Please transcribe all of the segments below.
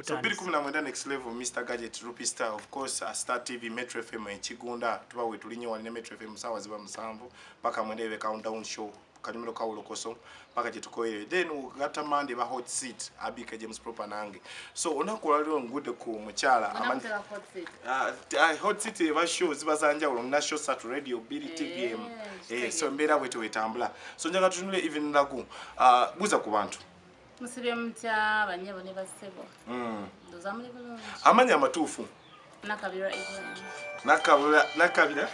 so 219 next level mr gadget rupee star of course uh, star tv metro fm ekigunda tuba wetulinye wali ne metro fm sawa ziba musanvu paka mwendebe countdown show kalimiro kawulokoso paka kyetukoyere then ugata mande ba hot seat abika james proper nange so onaku waliro ngude ku mukyala uh, hot seat eba show ziba zanjawulo muna show sat radio bili eh, tvm eh, so mbeera bwetewetambula so njaga tutunule even lagu uh, buza ku bantu musibye mutya banyabo ne basebo mm. ndoza muli bulungi amanya amatuufu nakabira evelyn nakabira nakabira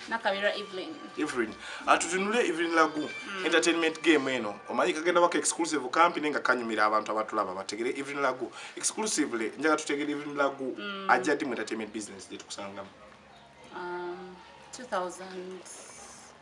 nakabira evelyn evelyn atutunule ah, evelyn lagu mm. entertainment game eno omanyi kagenda wako exclusive kampi nenga kanyumira abantu abatulaba bategere evelyn lagu exclusively njaga tutegere evelyn lagu mm. ajja di mu entertainment business gye tukusangamu um, 2000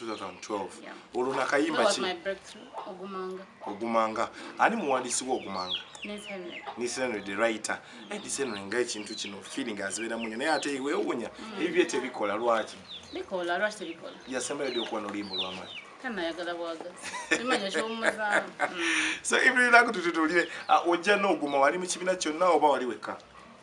2012 olwo nakayimba ki ogumanga ani muwandiisi wa ogumanga nisenre the writer eh, nisenre nga ekintu kino feeling azibeera munyo naye ate wewunya mm. ebibye tebikola lwaki yasembayo dy okuba nolimbo lwamani so ibiriraku tututulire ah, ojja n'oguma wali mu kibiina kyonna oba wali wekka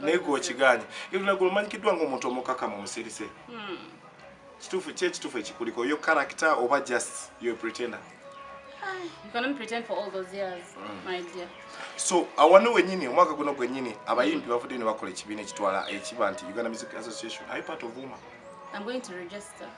naye gwe okigaanye iruna gwe omanyikiddwa ngaomuntu omukakamu omusirise hmm. kituufu ki ekituufu ekikuliko yo character oba just yo pretender hmm. so awano wenyini omwaka guno gwenyini abayimbi bavudde ne bakola ekibiina ekitwala ekiba nti uganda music association i part of woman I'm going to register.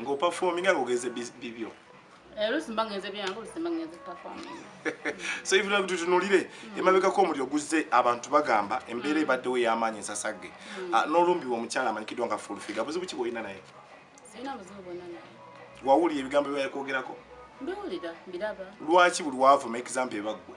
nga opafominga nga ogenze bibyo eh, so even like tutunulire mm. emabekako omuliro guzze abantu bagamba embeera mm. ebaddewo ey'amaanyi ensasagge mm. ah, n'olumbiwa omukyala amanyikiddwa nga fulfiga buzibu ki bwolina naye wawulira ebigambo byeyakwogerako lwaki buli wavuma example ebaggwe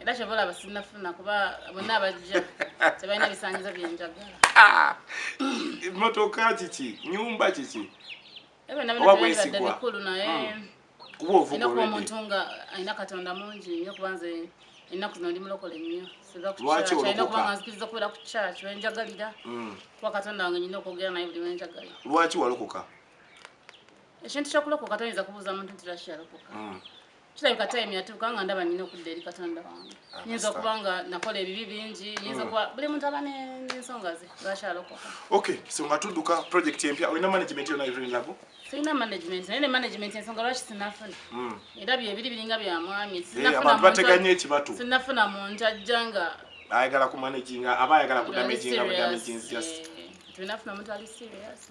era kyova olaba sinafuna kuba bonna abajja tebalina bisanyizo byenjagala ah! motoka kiki nyumba kiki ebnabnabademikulu naye hmm. kubaoina kuba omuntu nga alina katonda mungi nyo kuba nze ennaku zino ndi mulokole nnyo sizakukyalina kuba nga nzikiriza okubeera ku kyaki wenjagalira hmm. kuba katonda wange nyina okwogera naye buli wenjagalira lwaki walokoka ekintu kyokulokoka toyinza kubuuza muntu nti lwaki yalokoka hmm. kirabika time yatuuka nga ndaba nina okudda eri katonda wange ah, nyinza okuba nga nakola ebibi bingi nyinza hmm. okuba buli muntu aba nensonga ze lwakyalokoka ok so nga tudduka project empya olina management yona evirinlabo sirina management naye ne management ensonga lwaki sinafuna hmm. era byebiri biringa bya mwami eh, sinafuna muntu ajja nga ayagala kumanaginga aba ayagala kudamaginga budamaginzi just tulina funa omuntu ali serious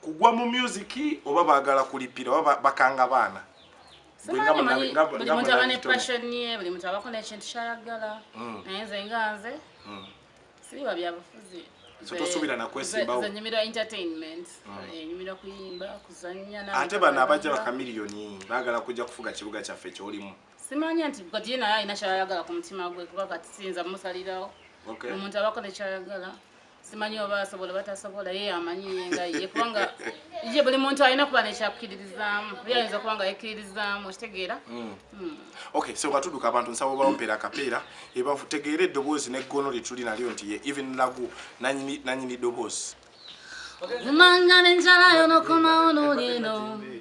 kugwa mu music oba bagala kulipira oba bakanga baana buli muntu aba ne passion ye buli muntu abako nekintu kyayagala mm. naye nze nga nze mm. siriba byabufuzi tosuubira nakwesimbawoenyumira entertainment mm. eh, enyumira kuyimba kuzanya ate bano abajja bakamiliyoni bagala kujja kufuga kibuga kyaffe kyolimu simanya nti kati ye naye alina kyayagala ku mutima gwe kuba kati siyinza musalirawo omuntu abako nekyayagala simanyi oba asobola batasobola ye amanyi yenga ye kubanga ye buli muntu alina kuba nekyakkiririzaamu yayinza okuba nga yekkiririzaamu okitegeera hmm. Hmm. ok so nga tuduka abantu nsaba obawompeera akapeera ebategeera eddoboozi neggono lyetuli nalyo nti ye even lagu nanyini ddoboozi umangala enjala yonokomawo nolino